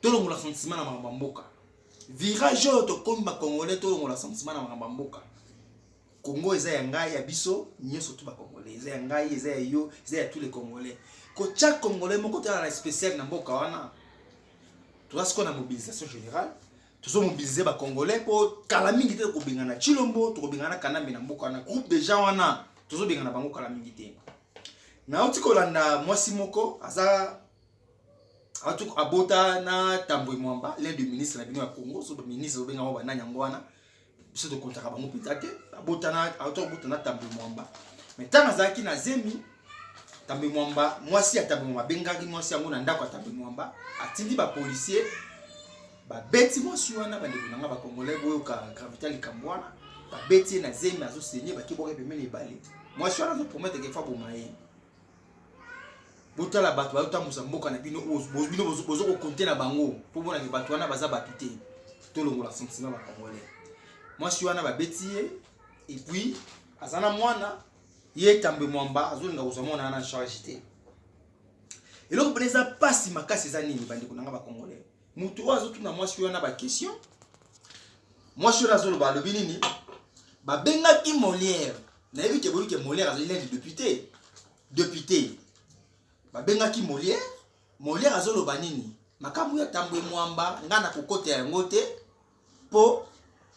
tolongola sentiment na makambo ya mboka virage oyo tokomi bacongolais tolongola sentiment na makambo ya mboka congo eza ya ngai ya biso nyonso tu bacongolais eza ya ngai eza ya yo eza ya tous les congolais kotya congolais moko tala na spécial na mboka wana toza sikoyo na mobilisation générale tozomobilize bacongolais mpo kala mingi te tokobengana chilombo tokobengana kanambe na mboka wana groupe deja wana tozobengana bango kala mingi te nauti kolanda mwasi moko aza atuk abota na tambwe mwamba l'un de ministre na bino ya congo so baministre obenga yango banani yango wana biso tokontaka bango mpenza te abotana auto abota na tambwe mwamba mai ntango azalaki na zemi tambwe mwamba mwasi ya tambwe mwamba abengaki mwasi yango na ndako ya tambwe mwamba atindi bapolisier babeti mwasi wana bandeko na ngai bakongolai boyoka gravita likambo wana babeti ye na zemi azosenye bakibwaka pembeni ebale mwasi wana azoprometeke fa boma ye botala bato bazotambusa mboka na bino bino bozo kokonte na bango mpo monake bato wana baza bato te tolongola sentiment bacongolais mwasi wana babeti ye epuis aza na mwana ye etambe mwamba azolinga kozwa mwana wana charge te eloko mpena eza mpasi makasi eza nini bandeko na nga bacongolais moto oyo azotuna mwasi wana baquestion mwasi wana azoloba alobi nini babengaki molière nayebi te boyebi ke molière azali nani depute depute babengaki molière molière azoloba nini makambo ya tambwe mwamba ngai nakokota yango te mpo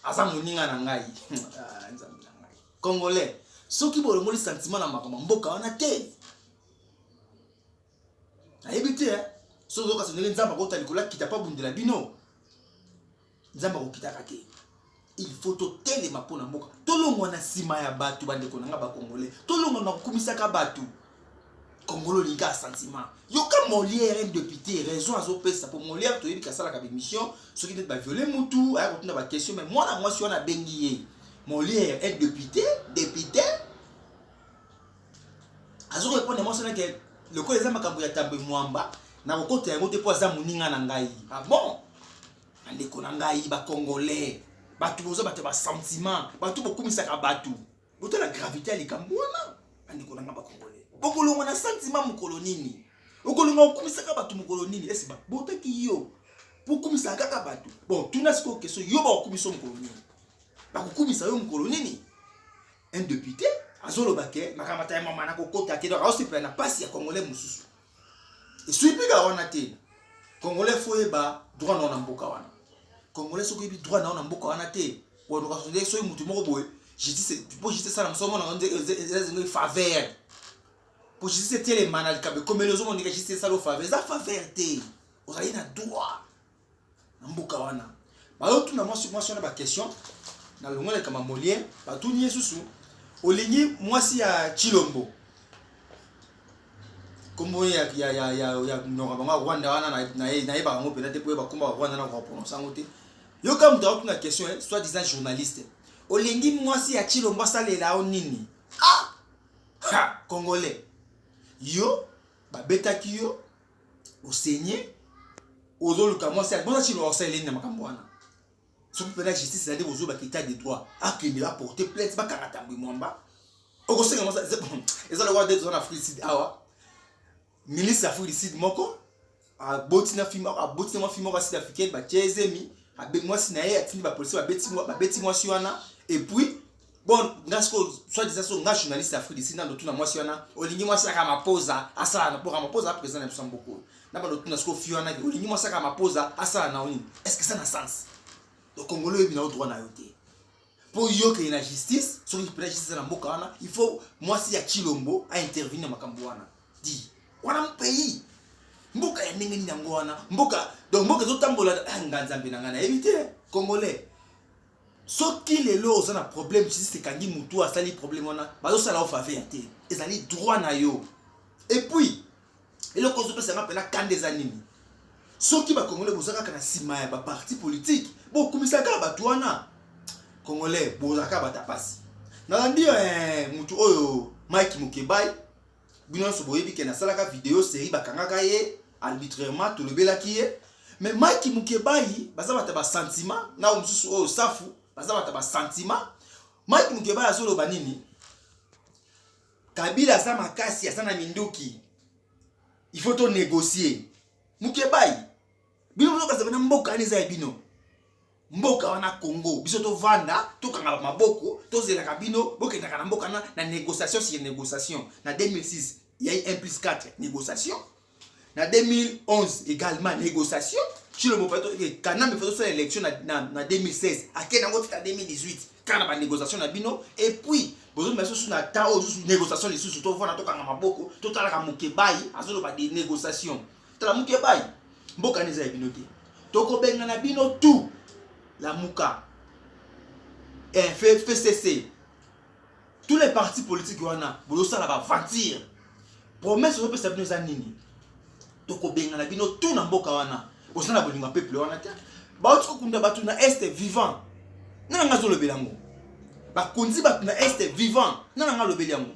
aza moninga na ngai ah, nzambe na ngai congolais soki bolongoli sentiment na makambo mboka wana te nayebi te eh. soki ozoka sondeli nzambe akota likolo akita mpo abundela bino Nzambe akokitaka te. Il faut totelema mpo na mboka, tolongwa na nsima ya bato. Bandeko na ngai bakongole, tolongwa na kokumisaka bato. Kongolo linga sentiment. Yoka Molière un député raison azopesa mpo Molière toyebi kasalaka bemission soki ndeti baviole mutu aya kotuna baquestion mai mwana mwasi wana abengi ye Molière un député député azokorepondre mwasi wana ke lokola eza makambo ya tambo emwamba nakokota yango te mpo aza moninga na ngai ah bon Bandeko na ngai ba congolais, bato boza bato ya ba sentiment, bato bokumisaka bato, botala gravite ya likambo wana. Bandeko na ngai ba congolais, bokolongwa na sentiment mokolo nini? Okolongwa okumisaka bato mokolo nini? Esi babotaki yo pokumisaka kaka bato? Bon, tuna sikoyo question, yo bakokumisa mokolo nini? Bakokumisa yo mokolo nini? Un depute azoloba ke makambo ya mama nakokota te, donc aosepela na pasi ya congolais mosusu Eswi pika wana te. Congolais faut yeba droit na wana mboka wana. Congolais soki yebi droit na wana mboka wana te, wana ka sonde soki mutu moko boye, justice po justice sala musomo na nze eza nze faveur. Po justice tele manal kabe komelo zo monika justice sala faveur, eza faveur te. Ozali na droit. na mboka wana bayotuna mwasi mwasi wana baquestion na longola ekamba molien batuni ye susu olingi mwasi ya chilombo kombo ya, ya, ya, ya, ya mnoka bango ya rwanda wana nayebaka yango mpenza te mpo ye bakomba ya rwanda na koprononce yango te yoka moto akotuna question eh, soit disant journaliste olingi mwasi ya chilombo asalela yo nini ah! ha, congolais yo babetaki yo osenye ozoluka mwasi abona chilo osaleleni na makambo wana soki mpena justice ezali kozoba kita de droit akende baporte plainte bakanga tambwe mwamba okosenga mwasi eza lokola nde toza na afrique sud awa ministre ya afrique du sud moko aboti na fima aboti na mwa fima moko ya sud africaine batie ezemi mwasi na ye atindi bapolisi babeti mwasi wana epuis bon nga sikoyo soit disant so nga journaliste ya afrique disi nando tuna mwasi wana olingi mwasi aka mapoza asala na boka mapoza ya président na biso mboka oyo na bando tuna sikoyo fi wana olingi mwasi aka mapoza asala na nini est ce que ça na sens donc congolais oyebi na yo droit na yo te mpo yo okende na justice soki mpena justice na mboka wana il faut mwasi ya chilombo aintervenir na makambo wana di wana mpei mboka ya ndenge nini yango wana mboka donc mboka ezotambola ah, nga nzambe na ngai nayebi te congolais Soki lelo oza na problème justice ekangi mutu asali problème wana bazo sala yo faveur te ezali droit na yo et puis eloko ozo pesa nga pena kanda eza nini soki ba congolais boza kaka na sima ya ba parti politique bo kumisa kaka batu wana congolais boza kaka bata pasi na landi eh mutu oyo Mike Mukebayi bino nionso boyebi ke nasalaka video serie bakangaka ye arbitrairement tolobelaki ye mais mike mukebayi baza bata ba sentiment nao mosusu oyo safu baza bata ba sentiment mike mukebayi azoloba nini kabila aza makasi aza na minduki il faut tonegocie mukebayi bino bozokaza bana mboka ani eza ya bino mboka wana Congo biso tovanda tokangaka maboko tozelaka bino bokendaka na mboka na, na négociation sur négociation na 2006 ya 1 plus 4 négociation na 2011 également négociation Tshilombo Fato eh, Kanambe Fato sala élection na, na, na 2016 akende yango tika 2018 kaka na ba négociation na bino et puis bozomema lisusu na temps oyo lisusu négociation lisusu tovanda tokanga maboko totalaka mokebayi azoloba de négociation tala muke bai mboka neza ya bino te tokobengana bino tout lamuka eh, fcc tous les partis politiques wana bozosala baventure promesse ozopesa bino eza nini tokobengana bino tout na mboka wana bosala bolingo ya peuple wana te bauti kokunda bato na este vivant nana nga azolobela yango bakonzi bato na este vivant nana nga alobeli yango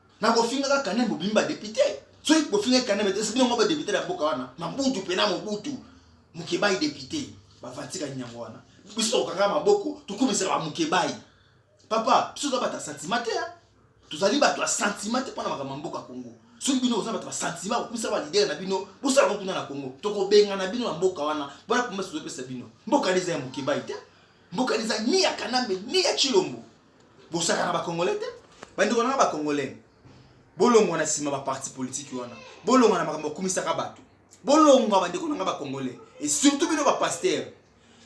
na kofingaka kane mobimi ba député soki kofinga kane mete soki ngo ba député na mboka wana mabutu pena mobutu mukebayi député bafatika nyango wana biso tokanga maboko tokumisaka ba mukebayi papa biso toza bato ya sentiment te tozali bato ya sentiment te mpo na makambo ya mboka congo soki bino boza bato basantima kokumisa balidere na bino bosala ngo kuna na kongo tokobengana bino na mboka wana mpona promese tozopesa bino mboka eza ya mokebai te mboka eza ni ya kanambe ni ya chilombo bosaka na bacongolais te bandeko nanga bacongolais bolongwa na nsima baparti politiki wana bolongwa na makambo bakumisaka bato bolongwa bandeko nanga bacongolais e surtout bino bapaster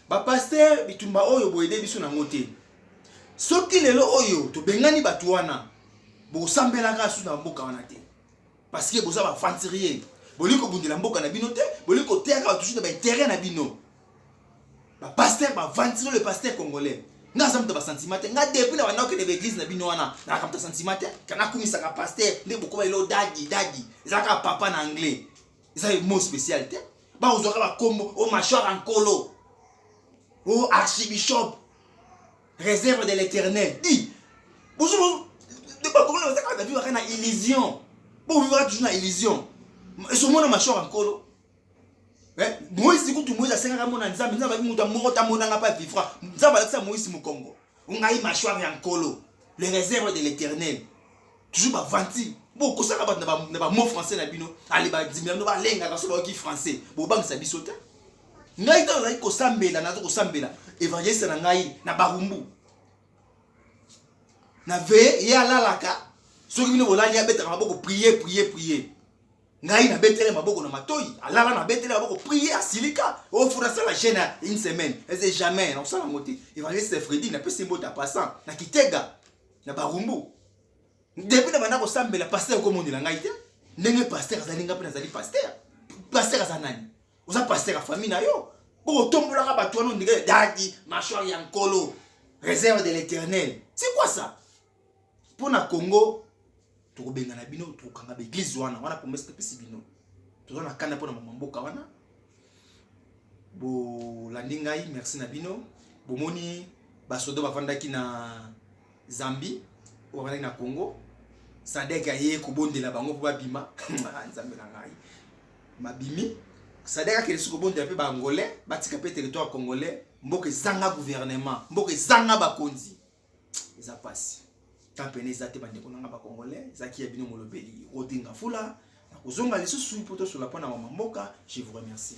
bapaster bitumba oyo boyede biso nango te soki lelo oyo tobengani bato wana bosambelaka susu na mboka wana te parce que boza baventurier bolingi kobundela mboka na bino te bolingi koteyaka bato susu na baintere na bino ba pasteur bavandi sino le pasteur congolais nga aza moto ya basentiment te nga depuis na banda okende baeglise na bino wana nalaka moto ya sentiment te kana akumisaka pasteur nde bokoma elo dadi dadi eza kaka papa na anglais eza mo spécial te bakozwaka bakombo o oh, machwara nkolo o oh, archibishop réserve de l'éternel di bozo bakongona bazaka na bivaka na illusion bovivaka toujours na illusion esomona machwara nkolo eh, moise kutu moise asengaka mona nzambe nzambe alaki moto moko tamonanga mpe avivra nzambe alakisa moise mokongo ngai mashware ya nkolo le réserve de l'éternel toujours bavanti bokosaka bato na bamot français na bino ale bandimi na bino balengaka so bayoki français bobangisa biso te ngai ntango nazali kosambela naza kosambela evangeliste na ngai na barumbu na veye ye alalaka soki bino bolali abetaka maboko priye priye priye ngai na betele maboko na matoyi alala na betele maboko prier asilika ofuna oh, sala jeune une semaine ese jamais nakosala yango te evangeliste fredi napesi mbote ya passant na kitega na barumbu depuis na banda kosambela paster okomonela ngai te ndenge paster azali ngai mpe nazali paster paster aza nani oza paster ya famille na yo bokotombolaka bato wana ondenge dadi machor ya nkolo réserve de l'éternel c'est quoi ça mpo na congo tokobengana bino tokokanga baeglize wana wana promese topesi bino toza na kanda mpo na mama mboka wana bolandi ngai merci na bino bomoni basoda bafandaki na zambie oyo bafandaki na congo sadek aye kobondela bango mpo babima ah, nzambe na ngai babimi sadek akende si kobondela mpe baangolais batika mpe territoire congolais mboka ezanga gouvernement mboka ezanga bakonzi eza pasi temps pene eza te bandeko na nga bacongolais ezalaki ya bino molobeli rodinga fula nakozonga lisusu mpo tosola mpo na mama mboka je vous remercie